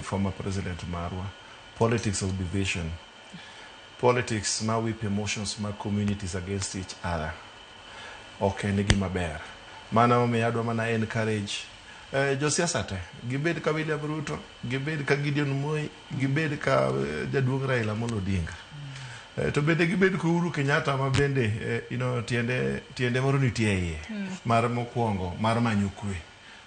former president marwa politics of division politics ma whip emotions ma communities against each other ok en gima ber mana omiyo adwa mana encourage eh, josiasa te gibed ka William Ruto gibed ka Gideon Moi gibed ka eh, jaduong' Raila Amolo Odinga Eh, to bende gibed ka Uhuru Kenyatta ma bende eh, you know, tiende tiende moro nitie iye mar mokwongo mar manyo kwe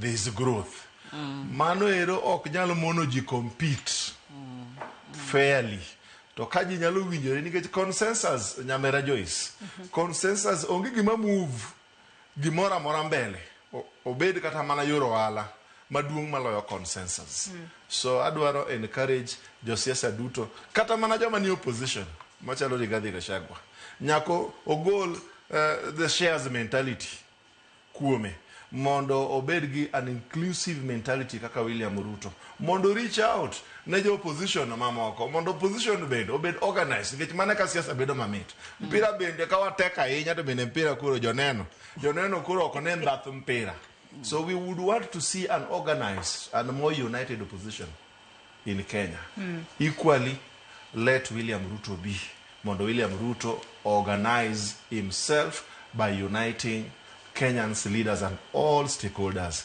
there is growth mano ero ok nyal mono ji compete fairly to ka ji nyalo winjore nikech consensus nyamera Joyce consensus onge gima move gimoro amora mbele O- obed kata mana yor ohala maduong' maloyo consensus so adwaro encourage josiasa duto kata mana joma ni opposition machalo Rigathi Gachagua nyako ogol eh, the shares mentality kuome mondo obed gi an inclusive mentality kaka William Ruto mondo reach out ne jo opposition mamoko mondo opposition bende obed organized nikech mana ka siasa bedo mamit mpira bende ka watek ahinya to bende mpira koro joneno joneno koro ok ne mbath mpira so we would want to see an organized and more united opposition in Kenya equally let William Ruto be mondo William Ruto organise himself by uniting Kenyans leaders and all stakeholders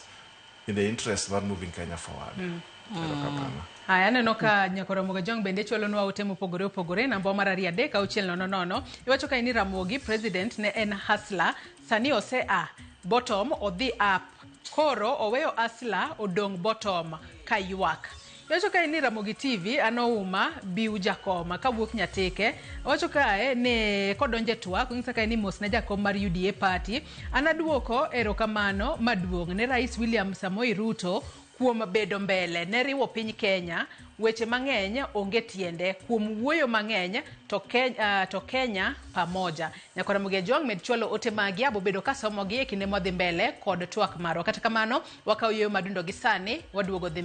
in the interest mar moving Kenya forward. Erokamano. Haya, aneno ka nyako Ramogi Jong bende chwalonwa ote mopogore opogore. Namba mar ariyo adek auchiel nono nono iwacho ka ni Ramogi president ne en hustler, sani ose a bottom odhi up Koro oweyo asla odong bottom ka ywak. Iwacho kae ni Ramogi TV an ouma biw jakom kawuok nyatike. Iwacho kae ni kodonje twak onyisa kae ni mos ne jakom mar UDA party. An aduoko erokamano maduong' ne Rais William Samoei Ruto Kuom bedo mbele ne riwo piny Kenya, weche mang'eny onge tiende, kuom wuoyo mang'eny to, ke, uh, to Kenya pamoja. Nyako Ramogi Ajong' med chwalo ote magi, abobedo kasomogi e kinde mwadhi mbele kod twak marwa. Kata kamano, wakawo yueyo madundo gi sani, waduogo dhi